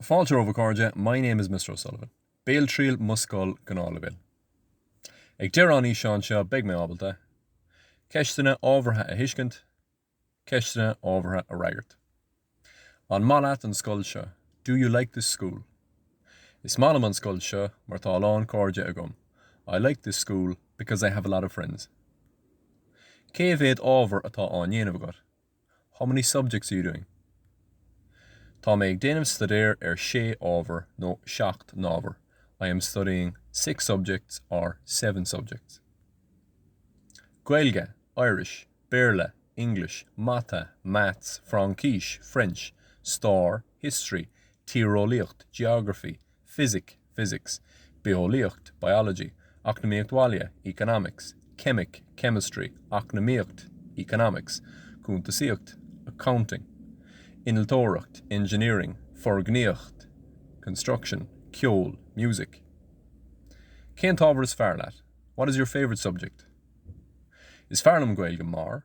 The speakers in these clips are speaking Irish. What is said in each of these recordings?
Fáilte romhaibh a chairde, my name is Mr. O'Sullivan. Béaltriail mo scoil Gnáthleibhéal. Ag deireadh an fhíseáin seo beidh mé ábalta, Ceisteanna ábhartha a thuiscint, Ceisteanna ábhartha a fhreagairt. An maith leat an scoil seo? Do you like this school? Is maith liom an scoil seo mar tá a lán cairde agam, I like this school because I have a lot of friends. Cé mhéad ábhar atá á ndéanamh agat? How many subjects are you doing? Tá mé ag déanamh staidéar ar sé ábhar nó seacht n-ábhar. I am studying six subjects or seven subjects. Gaeilge, Irish, Béarla, English, Mata, Maths, Fraincis, French, Stair, history, tíreolaíocht, geography, fisic, physics, bitheolaíocht, biology, eacnamaíocht bhaile, economics, ceimic, chemistry, eacnamaíocht, economics, cuntasaíocht, accounting, innealtóireacht, engineering, foirgníocht, construction, ceol, music. Cén t-ábhar is fearr leat? What is your favourite subject? Is fearr liom Gaeilge mar.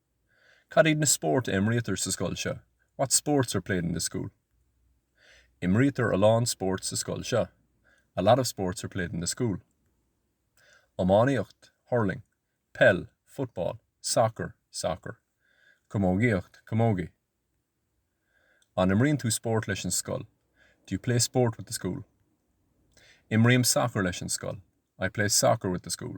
Cad iad na spóirt a imrítear sa scoil seo? What sports are played in this school? Imrítear a lán spóirt sa scoil seo. A lot of sports are played in this school. Iománaíocht, hurling. Peil, football. Soccer, soccer. Camógaíocht, camogie. An imríonn tú spórt leis an scoil? Do you play sport with the school? Imrím sacar leis an scoil. I play soccer with the school.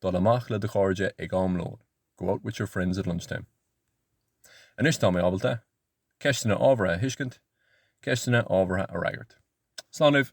Dul amach le do chairde ag am lóin, Go out with your friends at lunchtime. Anois tá mé ábalta! Ceisteanna ábhartha a thuiscint, Ceisteanna ábhartha a fhreagairt. Slán libh!